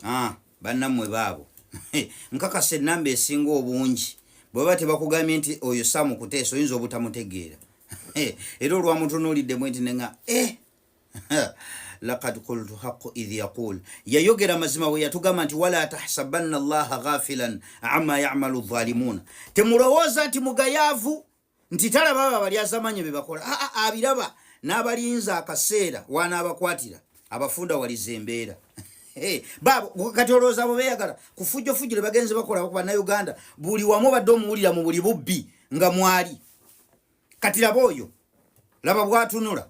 ah, bannammwe baabo nkakasa ennamba esinga obungi bwebaba tebakugambye nti oyo samu kuteesa oyinza obutamutegeera era olwamutunuuliddemu nti nenga eh, lakad kultu haqu idh yaqul yayogera mazima bwe yatugamba nti wala tahsabanna allaha ghafilan ama yamalu dhalimuuna temulowooza nti mugayaavu nti talaba abo abalyazamanya bebakola aa ah, ah, abiraba n'abalinza akaseera wanaabakwatira abafunda waliza embeera kati olowooza abo beyagala kufujjofujjule bagenzi bakola ku bannauganda buli wamu badde omuwulira mu buli bubbi nga mwali kati laba oyo laba bwatunula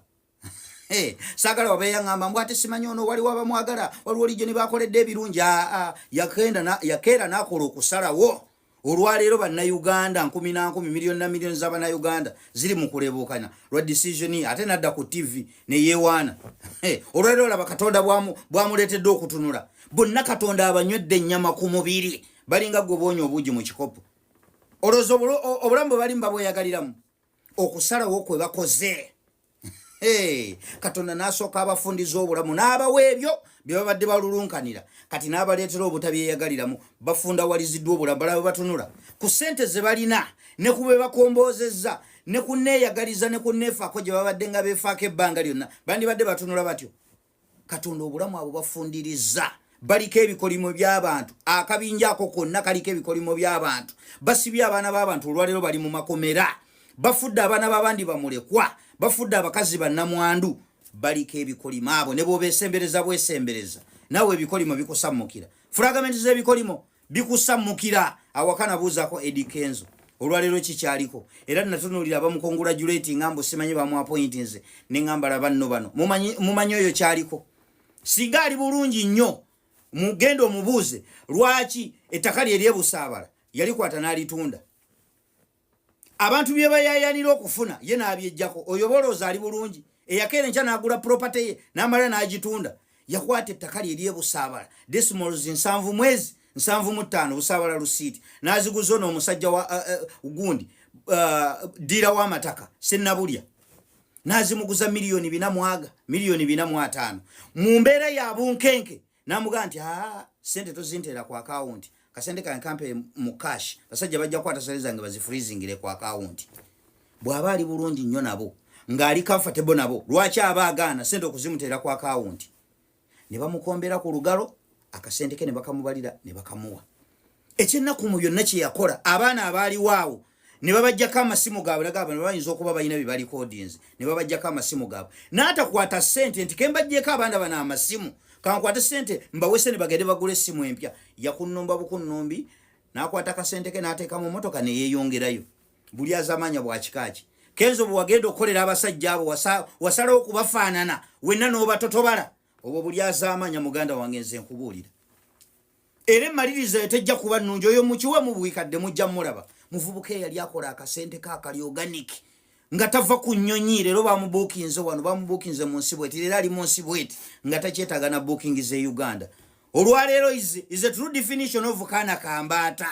Hey, sagala wabe yangamba mbu ate simanyi ono wali waba mwagala waliwo lijo ne bakoledde ebirungi yakenda yakeera nakola okusalawo olwaleero bannayuganda nkumi na nkumi miliyoni na miliyoni z'abannayuganda ziri mu kulebuukanya lwa decision ate nadda ku tv ne yeewaana olwaleero laba katonda bwamuleetedde okutunula bonna katonda abanywedde ennyama ku mubiri balinga gwe boonya obuugi mu kikopo olowooza obulamu bwe balimu babweyagaliramu okusalawo kwe bakoze katonda n'asooka abafundiza obulamu n'abawa ebyo bye babadde balulunkanira kati n'abaleetera obutabyeyagaliramu bafundawaliziddwa obulamu balaba batunula ku ssente ze balina ne ku be bakomboozezza ne ku neeyagaliza ne ku neefaako gye babadde nga beefaako ebbanga lyonna bandibadde batunula batyo katonda obulamu abo bafundiriza baliko ebikolimo byabantu akabinja ako konna kaliko ebikolimo byabantu basibye abaana babantu olwaleero bali mu makomera bafudde abaana babandi bamulekwa bafudde abakazi bannamwandu baliko ebikolimo abo ne bwobesembereza bwesembereza nawe ebikolimo bikusammukira fulagamenti z'ebikolimo bikusammukira awaka nabuuzaako edi kenzo olwaleero kikyaliko era natunulira abamukongulajulati nga mbu simanyi bamwapointi nze nengambala banno bano mumanyi oyo kyaliko singa ali bulungi nnyo mugenda omubuuze lwaki ettaka lye lyebusaabala yalikwata n'alitunda abantu bye bayayanira okufuna ye n'abyejjako oyo bolooza ali bulungi eyakeera enkya n'agula puropate ye n'amala n'agitunda yakwata ettaka lye lyebusaabala desmols nsanvu mwezi nsanvu mu ttaano busaabala lusiiti n'aziguza ono omusajja wa uh, uh, gundi uh, ddiira w'amataka sennabulya n'azimuguza miliyoni bina mwaga miliyoni bina mu ataano mu mbeera ya bunkenke namugaa nti aa sente tozinteera ku akawunti kasente kange kampe mu cash basajja bajja kukwata sente zange bazifrizingire ku akawunti bw'aba ali bulungi nnyo nabo ng'ali comfortable nabo lwaki aba agaana sente okuzimuteera ku akawunti ne bamukombera ku lugalo akasente ke ne bakamubalira ne bakamuwa ekyennaku mu byonna kye yakola abaana abaaliwo awo ne babajjako amasimu gaabwe nagamba ne bayinza okuba balina bye balikodinzi ne babajjako amasimu gaabwe n'atakwata ssente nti kembajjeko abaana bano amasimu kankwate ssente mbawese ne bagende bagula essimu empya yakunnumba bukunnumbi n'akwata kasente ke n'ateeka mu motoka ne yeeyongerayo buli azamaanya bwakikaaki kenzo bwe wagenda okukolera abasajja abo wasalawo okubafaanana wenna n'obatotobala obwo buli azamaanya muganda wange nze nkubuulira era emaliriza yo tejja kuba nnungi oyo mukiwe mubuikadde mujja mulaba muvubuka eyali akola akasente kakali organic nga tava ku nnyonyi leero bamubuukinze wano bamubuukinze mu nsi bweti leero ali mu nsi bweti nga takyetaaga na buukingi ze uganda olwaleero is a true definition of kaana kambaata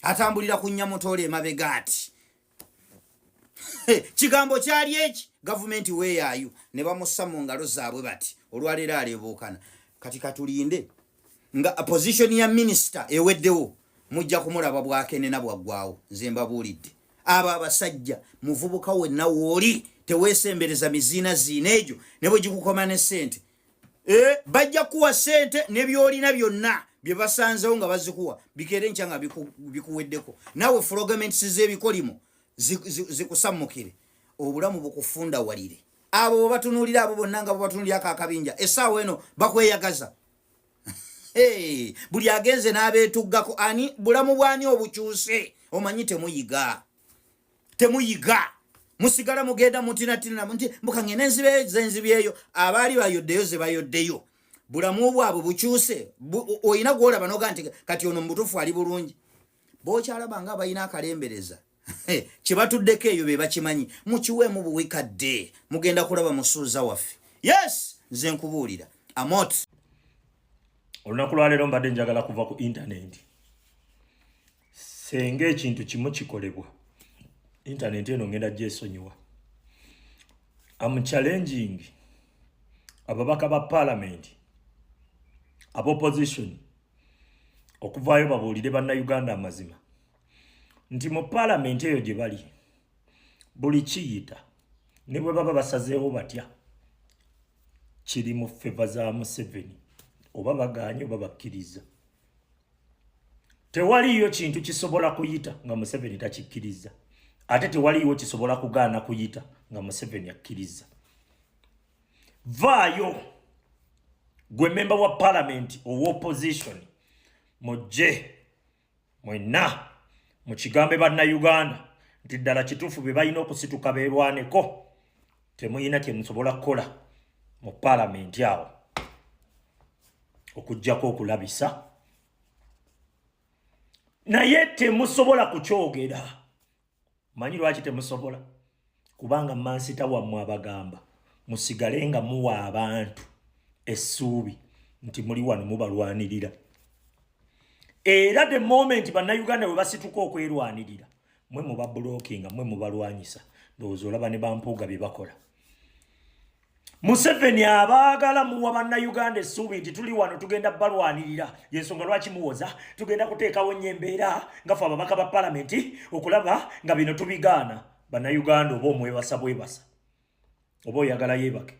atambulira ku nyamutoola emabega ati kigambo kyali eki gavumenti weeyaayo ne bamussa mu ngalo zaabwe bati olwaleero aleebuukana kati katulinde nga position ya minisita eweddewo mujja kumulaba bwakenena bwaggwawo nze mbabuulidde abo abasajja muvubuka wenna wooli teweesembereza miziina ziina egyo ne bwe gikukoma ne ssente eh, bajja kuwa sente nebyolina byonna byebasanzewo nga bazikuwa bikere nkya nga bikuweddeko nawe frogaments zebikolimo zikusammukire obulamu bukufunda walire abo bwebatunulira abo bonna nga bwebatunulira ako akabinja esaawa eno bakweyagaza buli agenze n'abeetuggako ani bulamu bwani obukyuse omanyi temuyiga temuyiga musigala mugenda mutinatinana nti mukangenda enzibe zenzibyeyo abaali bayoddeyo zebayoddeyo bulamu bwabwe bukyuse olina gwolaba noga nti kati ono mubutufu ali bulungi bokyalaba nga balina akalembereza kyebatuddeko eyo bebakimanyi mukiwemu buwikadde mugenda kulaba musuuza waffe yes nze nkubuulira amot olunaku lwaleero mbadde njagala kuva ku intaneti senga ekintu kimu kikolebwa internet eno ngenda gyesonyiwa am challenging ababaka ba parliament ab opposition okuvaayo babuulire bannayuganda amazima nti mu parliament eyo gye bali buli kiyita ne bwe baba basazeewo batya kiri mu feva za museveni oba bagaanye oba bakkiriza tewaliyo kintu kisobola kuyita nga museveni takikkiriza ate tewaliwo kisobola kugaana kuyita nga museveni akkiriza vaayo gwe memba wa palamenti owa opposition mujje mwenna mukigambe bannauganda nti ddala kituufu be balina okusituka beerwaneko temuyina kyemusobola kukola mu palamenti awo okugjako okulabisa naye temusobola kukyogera manyi lwaki temusobola kubanga mansita wammwe abagamba musigale nga muwa abantu essuubi nti muli wano mubalwanirira era the moment bannayuganda bwe basituka okwerwanirira mwe muba blocking mwe mubalwanyisa ndowooza olaba ne bampuuga bye bakola museveni abaagala muwa bannayuganda essuubi nti tuli wano tugenda balwanirira yensonga lwaki muwoza tugenda kuteekawo nnyo embeera nga fe ababaka ba palamenti okulaba nga bino tubigaana bannayuganda oba omwebasa bwebasa oba oyagala yebake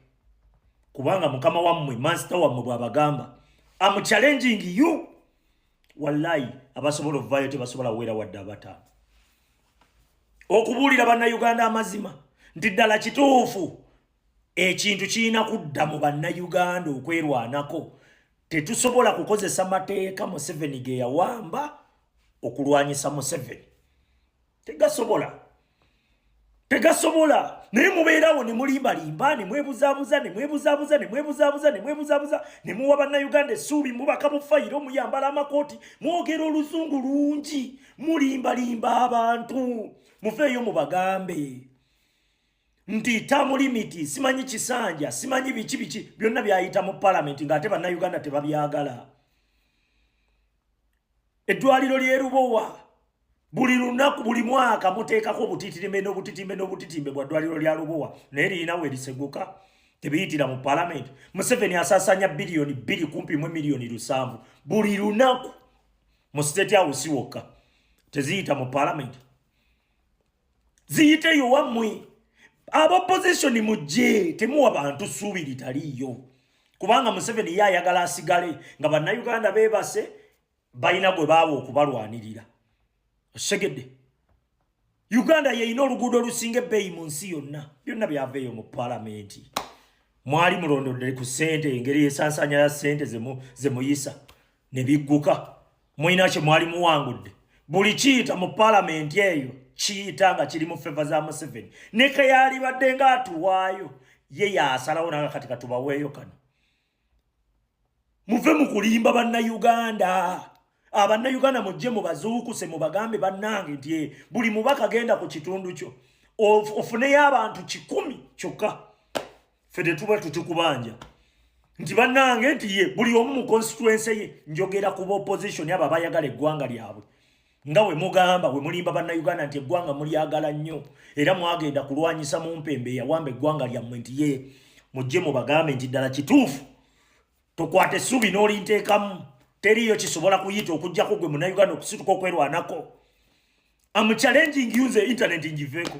kubanga mukama wammwe mansita wammwe bwabagamba am challenging you wallayi abasobola okuvayo tebasobola wera wadde abataano okubuulira bannayuganda amazima nti ddala kituufu ekintu kirina kudda mu bannayuganda okwerwanako tetusobola kukozesa mateeka museveni ge yawamba okulwanyisa museveni tegasobola tegasobola naye mubeerawo ne mulimbalimba ne mwebuzabuza ne mwebuzabuza ne mwebuzabuza ne mwebuzabuza ne muwa bannayuganda essuubi mubaka mu fayiro muyambala amakooti mwogera oluzungu lungi mulimbalimba abantu mufeeyo mubagambe nti tamu limiti simanyi kisanja simanyi biki biki byonna byayita mu palamenti ng'ate bannayuganda tebabyagala eddwaliro ly'e lubowa buli lunaku buli mwaka muteekako obutitimbe n'obutitimbe n'obutitimbe bwa ddwaliro lya lubowa naye lirina we liseguka tebiyitira mu palamenti museveni asasanya biliyoni bbiri kumpi mu miliyoni lusanvu buli lunaku mu state house wokka teziyita mu palamenti ziyite yowammwe abopozisioni mujje temuwa bantu ssuubi litaliiyo kubanga museveni ye ayagala asigale nga bannayuganda beebase balina gwe baaba okubalwanirira osegedde uganda yeyina oluguudo olusinga ebbeeyi mu nsi yonna byonna byaveeyo mu palamenti mwali mulondodde ku sente engeri esansanya ya sente zemuyisa ne bigguka mulina kye mwali muwangudde buli kiyita mu palamenti eyo kiyita nga kiri mu feva za museveni nekeyalibadde nga atuwaayo ye yasalawo nanga kati katubaweeyo kano muve mu kulimba bannayuganda abannayuganda mujje mubazuukuse mubagambe bannange nti eh, buli mubaka genda ku kitundu kyo ofuneyo abantu kikumi kyokka fe tetuba tutikubanja nti bannange nti ye buli omu mu constituense ye njogera ku baopposition abo abayagala eggwanga lyabwe nga we mugamba we mulimba bannayuganda nti eggwanga mulyagala nnyo era mwagenda kulwanyisa mu mpembe eyawamba eggwanga lyammwe nti ye mujje mubagambe nti ddala kituufu tokwata essuubi n'olinteekamu teriiyo kisobola kuyita okugyako gwe munayuganda okusituka okwerwanako amuchallenging yunze internet ngiveeko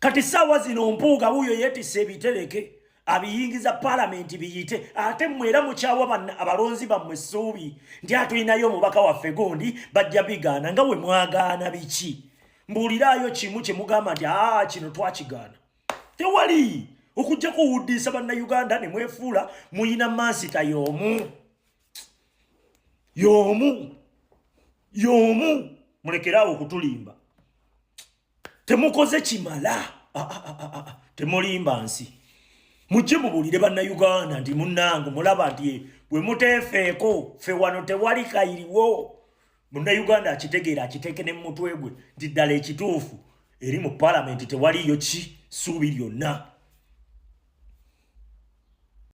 kati saawa zino mpuuga wuuyo yeetisse ebitereke abiyingiza palamenti biyite ate mmwe era mukyawa abalonzi bammwe essuubi nti atulinayo omubaka waffe gundi bajja bigaana nga we mwagaana biki mbuuliraayo kimu kye mugamba nti aa kino twakigaana tewali okujja kuwuddiisa bannayuganda ne mwefuula muyina mansita y'omu y'omu y'omu mulekeraawo okutulimba temukoze kimala ah, ah, ah, temulimba nsi mujje mubuulire bannayuganda nti munnange mulaba nti eh, bwe muteefeeko fe wano tewali kayiriwo munnayuganda akitegeera akiteeke ne mumutwe gwe nti ddala ekituufu eri mu palamenti tewaliyo ki suubi lyonna